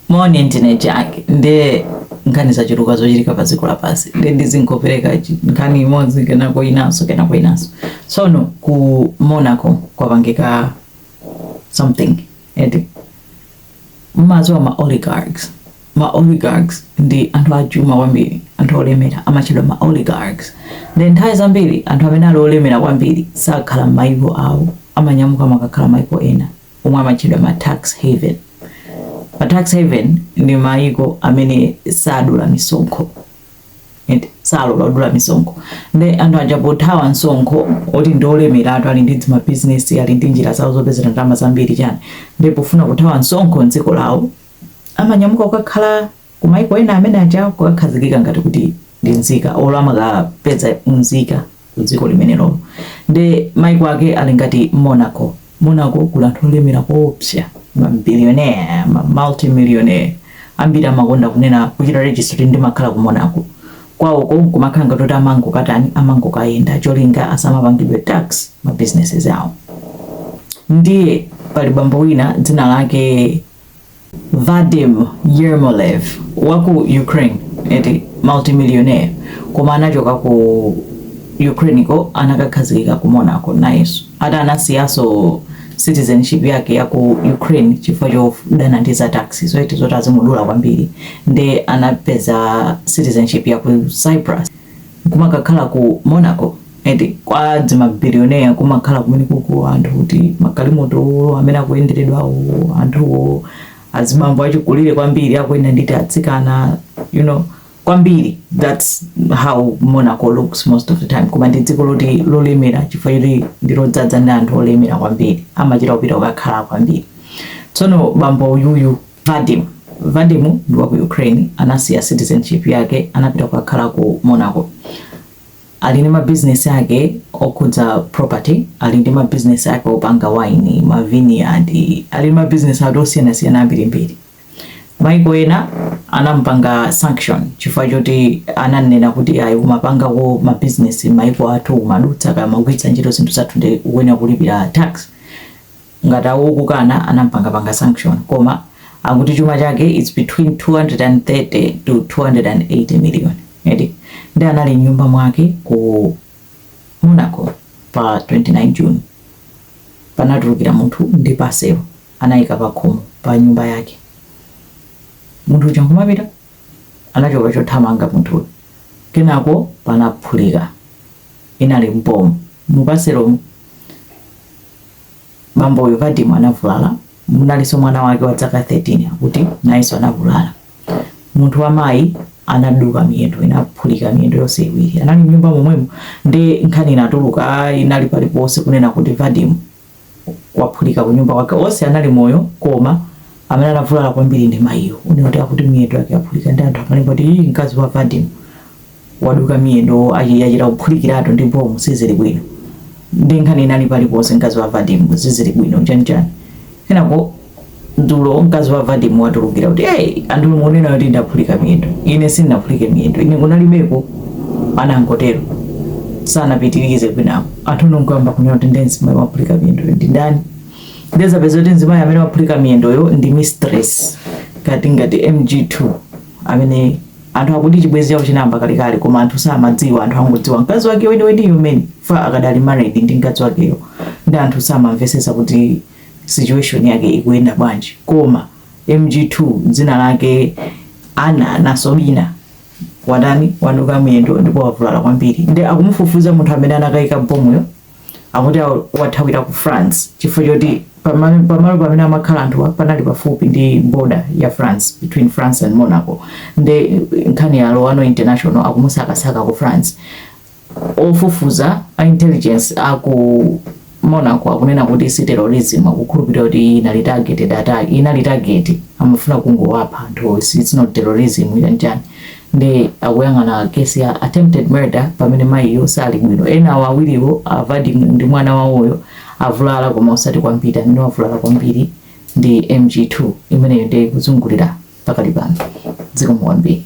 moni ndine jack nde nkhani zachuluka zochitika pa dziko lapansi nde ndizingopereka nkhani imodzi kenako inanso kenako inanso tsono ku monaco kwapangika something eti mmaziwa ma oligarchs ma oligarchs ndi anthu achuma kwambiri anthu olemera amatchedwa ma oligarchs ndi nthawi zambiri anthu amene ali olemera kwambiri sakhala m'mayiko awo amanyamuka makakhala mayiko ena omwe amatchedwa ma tax haven. Ma tax haven ndi mayiko amene sadula misonkho salola kudula misonkho nde anthu aja pothawa msonkho oti ndi olemeratu ali ndi dzimabizinesi ali ndi njira zawo zopezera ndalama zambiri chani nde pofuna kuthawa msonkho mdziko lawo amanyamuka kukakhala ku maiko ena amene aja kukakhazikika ngati kuti ndi nzika olo amakapeza unzika ku dziko limenelolo nde maiko ake ali ngati monaco monaco kuli anthu olemera koopsa ma billionaire ma multimillionaire ambiri amakonda kunena kuchita register kuti ndimakhala ku monaco kwawoko nkumakhala ngati kuti amangokatani amangokayenda cholinga asamapangidwe tax ma businesses awo ndiye pali bambo wina dzina lake Vadim Yermolev wa ku Ukraine eti multimillionaire koma anachoka ku Ukraine ko anakakhazikika ku Monaco nayenso ata anasiyanso citizenship yake ya ku Ukraine chifukwa chodana ndi za tax so eti zoti azimudula kwambiri nde anapeza citizenship ya ku Cyprus kumakakhala ku Monaco eti kwa dzimabilioneya kumakhala kumenekoko anthu kuti magalimoto amene akuyenderedwa anthu azibambo achikulire kwambiri akuyenda ndi tiatsikana you know kwambiri that's how Monaco looks most of the time koma ndi dziko loti lolemera chifukwa choti ndilodzadza ndi anthu olemera kwambiri amachita kupita kukakhala kwambiri tsono bambo uyuyu Vadim. Vadim ndi wa ku Ukraine, anasiya citizenship yake anapita kukakhala ku Monaco. Ali ndi mabizinesi ake okhudza property, ali ndi mabizinesi ake opanga wayini, mavineyard, ali ndi mabizinesi ake osiyanasiyana ambirimbiri. Mayiko ena anamupanga sanction chifukwa choti ananena kuti ayi, umapangako mabizinesi m'mayiko athu, umadutsa kaya umagwiritsa ntchito zinthu zathu ndiye ukuyenera kulipira tax. ngati awo okukana anampangapanga sanction koma akuti chuma chake its between 230 to 280 million eti nde anali mnyumba mwake ku monaco pa 29 june panatulukira munthu ndi paselo anayika pakhomo pa nyumba yake munthu uja nkumapita anachoka chothamanga munthuyo kenako panaphulika inali mbomu mupaselomo bambo uyu Vadim anavulala, munalinso mwana wake wa zaka 13 akuti nayenso anavulala. Munthu wa mayi anaduka miyendo, inaphulika miyendo yonse iwiri. Anali m'nyumba momwemo nde nkhani inatuluka inali paliponse kunena kuti Vadim waphulika ku nyumba kwake. Onse anali moyo koma amene anavulala kwambiri ndi mayiyo. Kunena kuti akuti miyendo yake yaphulika ndi anthu amalemba kuti mkazi wa Vadim waduka miyendo achi yachita kuphulikiratu ndi bomu sizili bwino nde nkhani inali paliponse mkazi wa vadimu sizili bwino chanchani kenako dzulo mkazi wa vadimu watulukira kuti hey, anthu mukunena kuti ndaphulika miyendo ine sindinaphulike miyendo ine kunalibeko anangotero sanapitirize kwinapo anthu nkungoyamba kunena kuti nde mzimayi waphulika miyendo ndi ndani nde azapeza kuti mzimayi amene waphulika miyendoyo ndi mistress ngati ngati mg2 amene Anthu akuti chibwezi chawo chinayamba kalekale koma anthu samadziwa anthu angodziwa mkazi wake weniweniyo amene so far akadali married ndi mkazi wakeyo nde anthu samamvesesa kuti situation yake ikuyenda bwanji koma mg2 dzina lake ana nasobina watani waduka miyendo ndipo wavulala kwambiri nde akumufufuza munthu amene anakaika bomuyo akuti wathawira ku france chifukwa choti pamalo pamene amakhala anthuwa panali pafupi ndi border ya france between france and monaco nde nkhani yalowa no international akumusakasaka ku france ofufuza a intelligence aku monaco akunena kuti si terrorism akukhulupirira kuti iyi inali targeted attack inali target amafuna kungowapha anthu si- it's not terrorism chanchani nde akuyang'ana case ya attempted murder pamene mayiyo sali bwino enawo awiriwo a Vadim ndi mwana wawoyo avulala koma osati kwambiri amene wavulala kwambiri ndi MG2 imeneyo nde ikuzungulira pakali pano m'dzikomo kwambiri